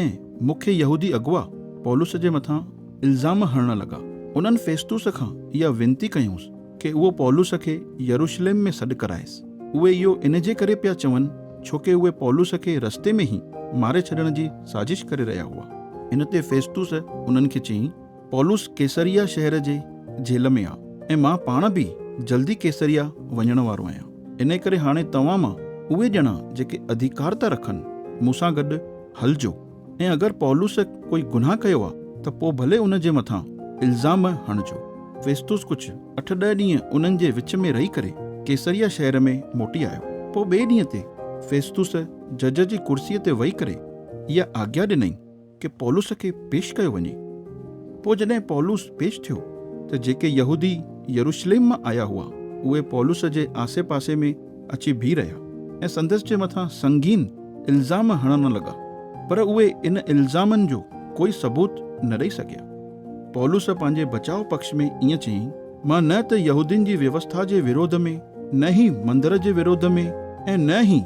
۽ مکيه يهودي اغوا پولس جي مٿان الزام هڻڻ لڳا. انهن فيستوس کان اها وينتي ڪيائونس ڪي اهو پولس کي يروشليم ۾ سڏ ڪرائيس. اهي اهو ان جي ڪري پيا چون ڇو ڪي اهي پولس کي رستي ۾ ئي ماري ڇڏڻ جي سازش ڪري رهيا هئا. ان تي فيستوس انهن کي چيائين. پولس قيصريه شهر جي جيل ۾ آ ۽ مان پاڻ به جلدي قيصريه وڃڻ وارو آهيان، انهيء ڪري هاڻي توهان مان اهي ڄڻا جيڪي اڌيڪارتا رکن، مون سان گڏ هلجو ۽ اگر پولس ڪوئي گناهه ڪيو آ ته پوء ڀلي ان جي مٿان الزام هڻجو. فيستوس ڪجهه اٺ ڏهه ڏينهن انهن جي وچ ۾ رهي ڪري قيصريه شهر ۾ موٽي آيو. پوء ٻئي ڏينهن تي فيستوس جج جي ڪرسيء تي ويهي ڪري اها آگيا ڏنائين، ڪي پولس کي پيش ڪيو وڃي. پوء جڏهن پولس پيش ٿيو ته جيڪي يهودي يروشليم مان آيا هئا، اهي پولس جي آسي پاسي ۾ اچي بيهي رهيا ۽ سندس جي مٿان سنگين الزام هڻڻ لڳا، پر اهي ان الزامن جو ڪوئي ثبوت نه ڏئي سگهيا. پولس پنهنجي بچاء پڪش ۾ ائين چيائين. مان نه ته يهودين جي ويوسٿا جي ورود ۾، نه ئي مندر جي ورود ۾ ۽ نه ئي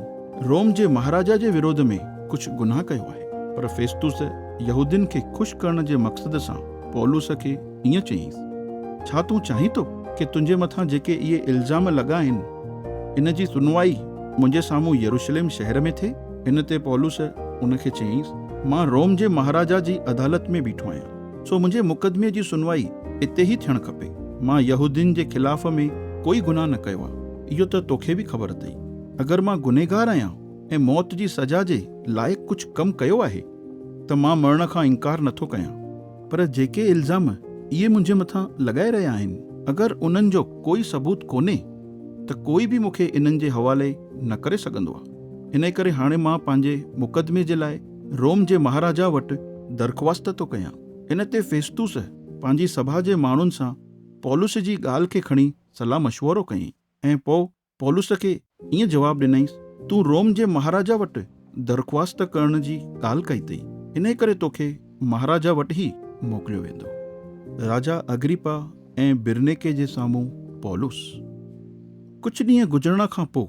روم جي مهاراجا جي ورود ۾ ڪجهه گناهه ڪيو آهي. پر فيستوس يهودين کي خوش ڪرڻ جي مقصد سان پولس کي ائين چيائينس، ڇا تون چاهين ٿو ڪي تنهنجي مٿان جيڪي اهي الزام لڳا آهن، ان جي سنوائي منهنجي سامهون يروشلم شهر ۾ ٿئي؟ ان تي پولس ان کي چيائينس، مان روم جي مهاراجا جي عدالت ۾ بيٺو آهيان. سو منهنجي مقدمي جي سنوائي اتي ئي ٿيڻ کپي. مان يهودين جي خلاف ۾ ڪوئي گناهه نه ڪيو آهي، اهو ته توکي به خبر اٿئي. اگر مان گنهگار آهيان ۽ موت جي سزا جي لائق ڪجهه ڪم ڪيو آهي ته مان مرڻ کان انڪار نه ٿو ڪيان. پر جيڪي الزام اهي منهنجي مٿان لڳائي رهيا آهن، اگر انهن جو ڪوئي ثبوت ڪونهي ته ڪوئي به مون کي انهن جي حوالي نه ڪري سگهندو آهي. انهيء ڪري هاڻي مان پنهنجي مقدمي جي لاء، روم جي مهاراجا وٽ درخواست ٿو ڪيان. ان تي فيستوس پنهنجي سڀا جي ماڻهن سان پولس جي ڳالهه کي کڻي صلاح مشورو ڪيائين ۽ پوء پولس کي ائين جواب ڏنائينس، تون روم جي مهاراجا وٽ درخواست ڪرڻ جي ڳالهه ڪئي اٿئي، انهي ڪري توکي مهاراجا وٽ ئي موڪليو ويندو. راجا اگريپا ۽ برنيڪي جي سامهون پولس. ڪجهه ڏينهن گذرڻ کان پوء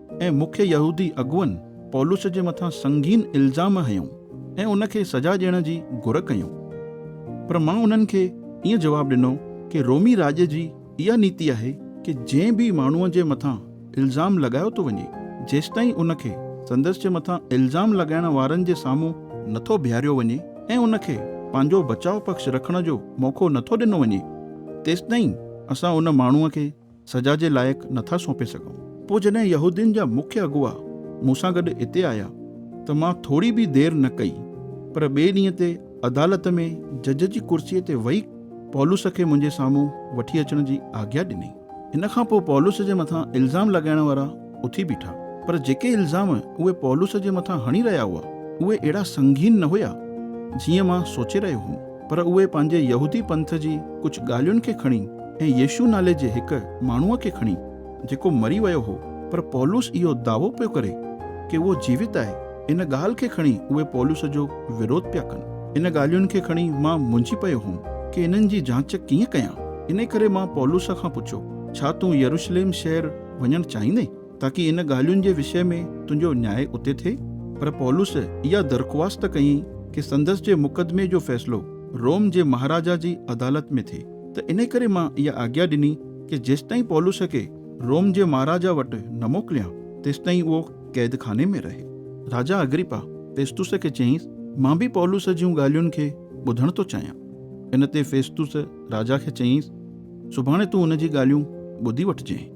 ۽ مکيه يهودي اڳوڻن پولس جي مٿان سنگين الزام هنيو ۽ ان کي سزا ڏيڻ جي گهر ڪيون. پر مان انهن کي ائين جواب ڏنو ڪي رومي راڄ جي اها نيتي آهي ڪي جنهن به ماڻهوء جي مٿان الزام لڳايو ٿو وڃي جيستائين ان کي سندس جي مٿان الزام لڳائڻ وارن جي سامهون نٿو بيهاريو وڃي ۽ ان کي پنهنجو بچاء پڪش رکڻ جو موقعو نٿو ڏنو وڃي تيستائين اسان ان ماڻهوء کي سزا جي لائق نه ٿا سونپي سگهون. پوء جڏهن يهودين جا مکيه اڳواء مون سان گڏ اتي آيا ته مان ٿوري به دير نه ڪئي، پر ٻئي ڏينهن تي عدالت ۾ جج جي ڪرسيء تي ويهي پولس کي منهنجي سامهون وٺي اچڻ جي آگيا ڏني. ان کان پوء پولس جي مٿان الزام لڳائڻ وارا اٿي بيٺا، پر جيڪي الزام اهي پولس جي مٿان هڻي رهيا هئا، اهي اهڙا سنگين نه هيا، جيئن مان سوچي رهيو هوم. پر اهي پنهنجي يهودي پنٿ جي ڪجهه ڳالهين کي کڻي ۽ يسوع نالي جي هڪ ماڻهوء کي کڻي، جيڪو مري ويو هو، پر پولس اهو دعوو پيو ڪري ڪي اهو جيوت آهي، ان ڳالهه کي کڻي اهي پولس جو وروڌ پيا ڪن. ان ڳالهين کي کڻي مان منجهي پيو هوم ڪي انهن جي جاچ ڪيئن ڪيان، انهيء ڪري مان پولس کان پڇيو، ڇا تون يروشليم شهر وڃڻ چاهيندين؟ تاڪي ان ڳالهين جي وشي ۾ تنهنجو نياء اتي ٿئي. پر پولس اها درخواست ڪيائين ڪي سندس جي مقدمي جو فيصلو روم جي مهاراجا جي عدالت ۾ ٿئي ته انهي ڪري مان اها آگيا ڏني ڪي جيستائين پولس کي روم جي مهاراجا وٽ نه موڪليان تيستائين اهو قيد خاني ۾ رهي. راجا اگريپا فيستوس کي چيائينس، مان به پولس جون ڳالهين کي ٻڌڻ ٿو چاهيان. ان تي فيستوس راجا کي چيائينس، سڀاڻي تون ان جي ڳالهيون ٻڌي وٺجئين.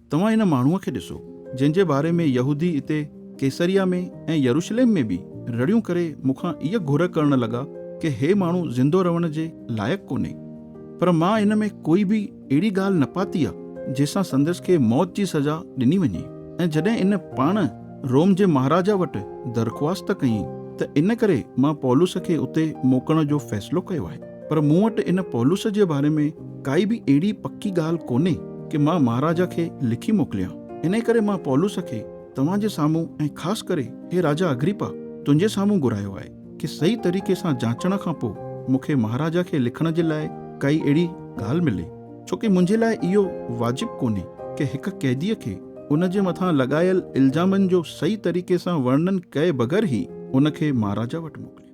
توهان ان ماڻهوء کي ڏسو، جنهن جي باري ۾ يهودي اتي قيصريه ۾ ۽ يروشليم ۾ به رڙيون ڪري مون کان اها گهر ڪرڻ لڳا ڪي هي ماڻهو زندو رهڻ جي لائق ڪونهي. پر مان ان ۾ ڪوئي به اهڙي ڳالهه نه پاتي آ، جنهن سان سندس کي موت جي سزا ڏني وڃي. ۽ جڏهن ان پاڻ روم جي مهاراجا وٽ درخواست ڪيائين، ته ان ڪري مان پولس کي اتي موڪلڻ جو فيصلو ڪيو آهي. پر مون وٽ ان پولس جي باري ۾ ڪائي به اهڙي پڪي ڳالهه ڪونهي ڪي مان مهاراجا کي لکي موڪليان. انهيء ڪري مان پولس کي توهان جي سامهون ۽ خاص ڪري هي راجا اگريپا تنهنجي سامهون گهرايو آهي ڪي صحيح طريقي سان جانچڻ کان پوء مون کي مهاراجا کي لکڻ جي لاء ڪائي اهڙي ڳالهه ملي ڇو ڪي منهنجي لاء اهو واجب ڪونهي ڪي هڪ قيديء کي ان جي مٿان لڳايل الزامن جو صحيح طريقي سان ورنن ڪئي بغير هي ان کي مهاراجا وٽ موڪليان.